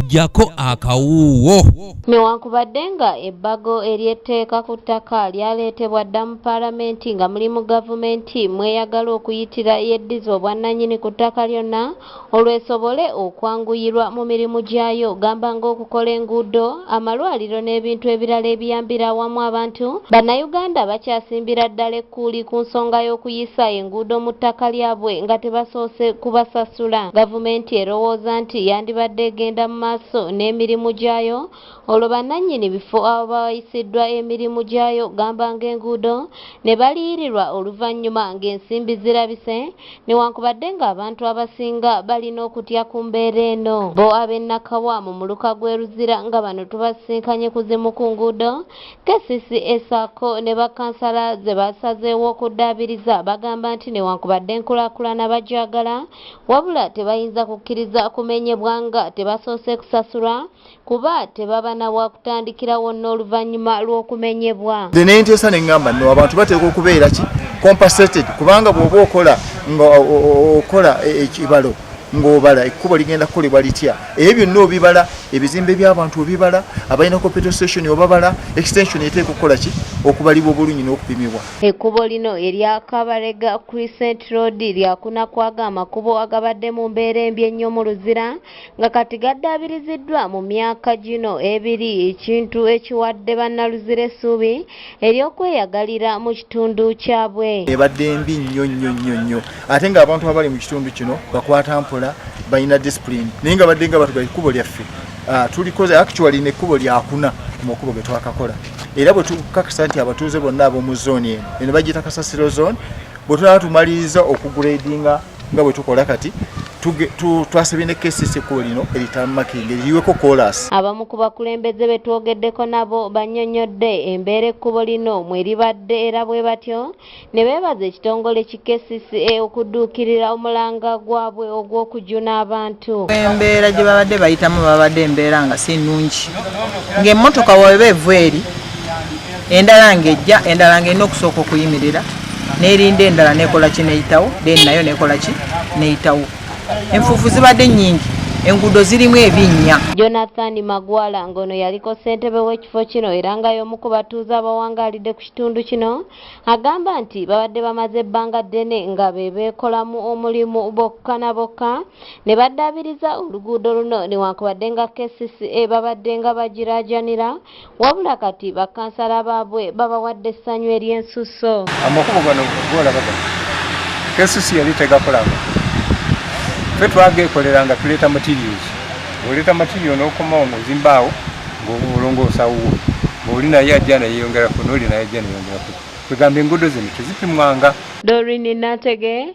jako akawuuwo newankubadde nga ebbago ery'etteeka ku ttaka lyaleetebwa dda mu palamenti nga muli mu gavumenti mweyagala okuyitira yeddiza obwannanyini ku ttaka lyonna olwesobole okwanguyirwa mu mirimu gyayo gamba ng'okukola enguudo amalwaliro n'ebintu ebirala ebiyambira awamu abantu, Bannayuganda bakyasimbira ddala ekkuuli ku nsonga y'okuyisa enguudo mu ttaka lyabwe nga tebasoose kubasasula. Gavumenti erowooza nti yandibadde egenda mu maaso n'emirimu gyayo olwo bannannyini bifo abawayisiddwa emirimu gyayo gamba ng'enguudo ne baliyirirwa oluvannyuma ng'ensimbi zirabise newankubadde ng'abantu abasinga balina okutya ku mbeera eno. Bo ab'e Nakawa mu muluka gw'e Luzira nga bano tubasisinkanye ku zimu ku nguudo kcca ssaako ne bakkansala ze baasazeewo okuddaabiriza bagamba nti newankubadde enkulaakulana bagyagala wabula tebayinza kukkiriza kumenyebwa nga tebasoose kusasulwa kuba tebaba na wakutandikirawo n'oluvannyuma lw'okumenyebwa nze ne nteesa ne ŋŋamba no abantu bateekwa okubeera ki compensated kubanga bw'oba okola nga okola e, e, ekibalo ng'obala ekkubo ligenda kukolebwa litya ebyo byonna obibala ebizimbe by'abantu obibala abalina computer station obabala extension eteeka okukola ki okubalibwa obulungi n'okupimibwa ekkubo lino erya kabarega crescent road lyakuna kwaga amakubo agabadde mu mbeera embi ennyo mu luzira nga kati gaddaabiriziddwa mu myaka gino ebiri ekintu ekiwadde bannaluzira essuubi ery'okweyagalira mu kitundu kyabwe ebadde mbi nnyo nnyo nnyo nnyo ate ng'abantu abali mu kitundu kino bakwata mpola balina disipulini naye nga badde nga batugaa ekkubo lyaffe ah, tulikoze actually nekkubo lyakuna mu makubo ge twakakola era bwe tukakasa nti abatuuze bonna ab'omu zooni eno eno bagiyita kasasiro zooni bwe tunaba tumaliriza okugradinga nga bwe tukola kati twasabye ne kesisi ekkubo lino eritamakenge liyiweko kolas abamu ku bakulembeze be twogeddeko nabo bannyonnyodde embeera ekkubo lino mwe libadde era bwe batyo ne beebaza ekitongole ki kesisi e okudduukirira omulanga gwabwe ogw'okujuna abantu embeera gye babadde bayitamu babadde embeera nga si nnungi ng'emmotoka weba evu eri endala ng'ejja endala ng'erina okusooka okuyimirira n'erinda endala nekola ki neyitawo then nayo nekola ki neyitawo enfuufu zibadde nnyingi enguudo zirimu ebinnya jonathan magwala ng'ono yaliko ssentebe w'ekifo kino era nga y'omu ku batuuze abawangaalidde ku kitundu kino agamba nti babadde bamaze ebbanga ddene nga be beekolamu omulimu bokka na bokka ne baddaabiriza oluguudo luno newankubadde nga kcca babadde nga bagiraajanira wabula kati bakansala baabwe babawadde essanyu ery'ensusso amakubo gano golaba gano kesusi yali tegakolanga fe twageekolera nga tuleeta materials oleeta material n'okomawo ngaozimbaawo ngaolongoosawuwo ngaoli naye ajja nayeyongerako nooli naye ajja neyongerako kwegamba enguudo zino tezipimwanga dorini natege